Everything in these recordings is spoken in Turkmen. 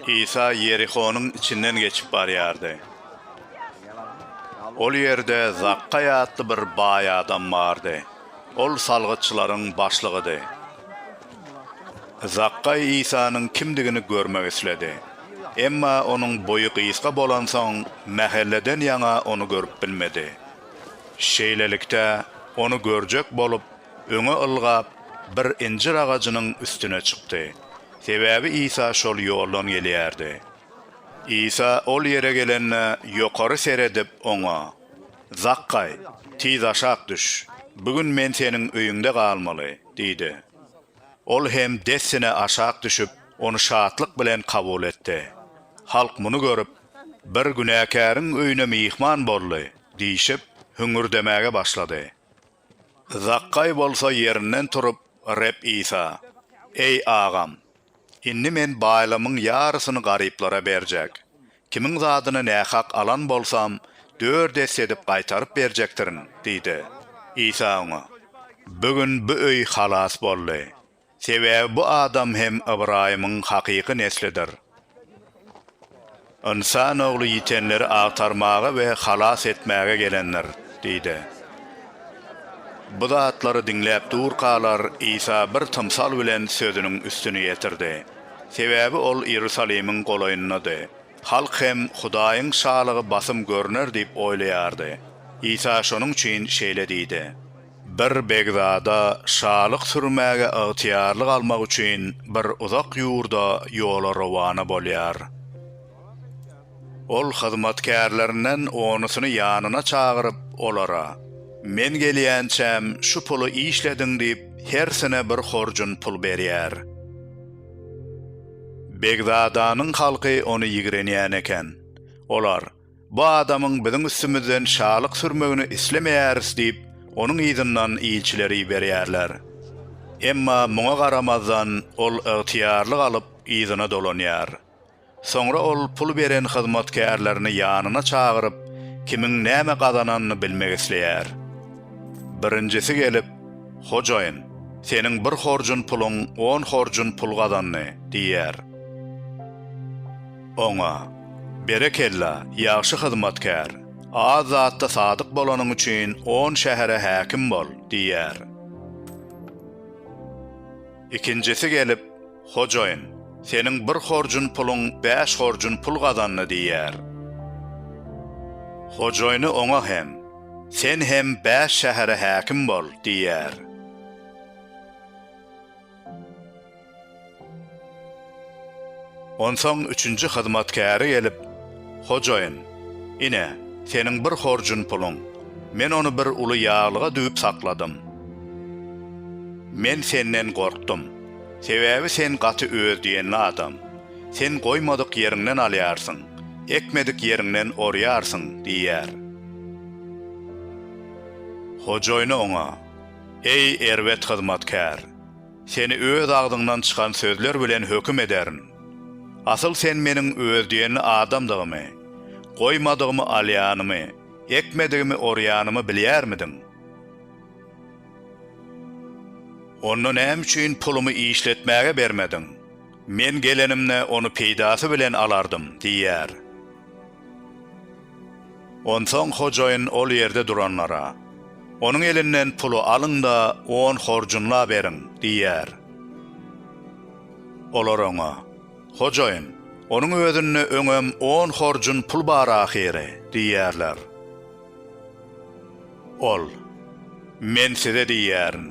Isa Ýerihonyň içinden geçip barýardy. Ol ýerde Zakgaý atly bir baý adam bardy. Ol salgytçylaryň başlygydy. Zakgaý Isanyň kimdigini görmek isledi. Emma onuň boýy gysga bolansoň, mähelleden ýaňa ony görüp bilmedi. Şeýlelikde, ony görjek bolup, öňe ylgap, bir injir agajynyň üstüne çykdy. Sebäbi Isa şol ýoldan gelýärdi. Isa ol ýere gelende, ýokary seredip, oňa, Zakgaý, tiz aşak düş, bu gün men seniň öýüňde galmaly diýdi. Ol hem dessine aşak düşüp, ony şatlyk bilen kabul etdi. Halk muny görüp, Bir günäkäriň öýüne myhman boldy diýşip, hüňürdemäge başlady. Zakgaý bolsa ýerinden turup, Reb Isa, Eý, agam! Indi men baýlygymyň ýarysyny garyplara berjek. Kimiň zadyny nähak alan bolsam, dört esse edip gaýtaryp berjekdirin diýdi. Isa oňa, Bu gün bu öý halas boldy. Sebäbi bu adam hem Ybraýymyň hakyky neslidir. Ynsan ogly ýitenleri agtarmaga we halas etmäge gelendir, diýdi. Bu zatlary diňläp durkalar, Isa bir tymsal bilen sözüniň üstüni ýetirdi. Sebäbi ol Iýerusalimiň golaýyndady. Halk hem Hudaýyň Şalygy basym görner diýip oýlaýardy. Isa şonuň üçin şeýle diýdi. Bir begzada şalyk sürmäge ygtyýarlyk almak üçin bir uzak ýurda ýola rowana bolýar. Ol hyzmatkärlerinden onusyny ýanyna çagyryp, olara, Men gelýänçäm şu puly işlediň diýip, hersine bir horjun pul berýär. Begzadanyň halky ony ýigrenýän eken. Olar, Bu adamyň biziň üstümizden şalyk sürmegini islemeýäris diýip, onuň yzyndan ilçileri iberýärler. Emma muňa garamazdan, ol ygtyýarly galyp, yzyna dolanýar. Soňra ol pul beren hyzmatkärlerini ýanyna çagyryp, kimiň näme gazananyny bilmek isleýär. Birinjisi gelip, Hojaýyn, seniň bir horjun puluň on horjun pul gazandy, diýýär. Oňa, Berekella, ýagşy hyzmatkär! Az zatda sadyk bolanyň üçin on şähere häkim bol! diýer. Ikinjisi gelip, Hojaýyn, seniň bir horjun puluň bäş horjun pul gazandy diýer. Hojaýyny oňa hem, Sen hem bäş şähere häkim bol! diýer. Onsoň üçünji hyzmatkäri gelip, Hojaýyn, ine, seniň bir horjun puluň, men ony bir uly ýaglyga düwüp sakladym. Men senden gorkdum, sebäbi sen gaty öz diýenli adam, sen goýmadyk ýeriňden alýarsyň, ekmedik ýeriňden orýarsyň diýýär. Hojaýyny oňa. Eý, erbet hyzmatkär! Seni öz agzyňdan çykan sözler bilen höküm ederin. Asyl sen meniň öz diýenli adamdygymy, goýmadygymy alýanymy, ekmedigimi orýanymy bilýärmidiň? Onda näme üçin pulumy işletmäge bermediň? Men gelenimde, ony peýdasy bilen alardym diýýär. Onsoň hojaýyn ol ýerde duranlara, Onuň elinden puly alyň-da, on horjunla beriň! diýer. Olar oňa, Hojaýyn, onuň özünde öňem on horjun pul bar ahyry! diýerler. Ol, Men size diýýärin,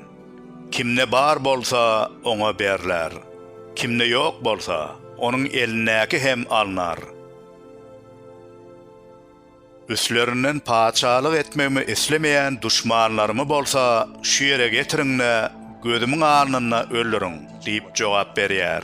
Kimde bar bolsa, oňa berler, kimde ýok bolsa, onuň elindäki hem alnar. Üstlerinden patyşalyk etmegimi islemeýän duşmanlarymy bolsa şu ýere getiriň-de, gözümiň alnynda öldüriň! diýip jogap berýär.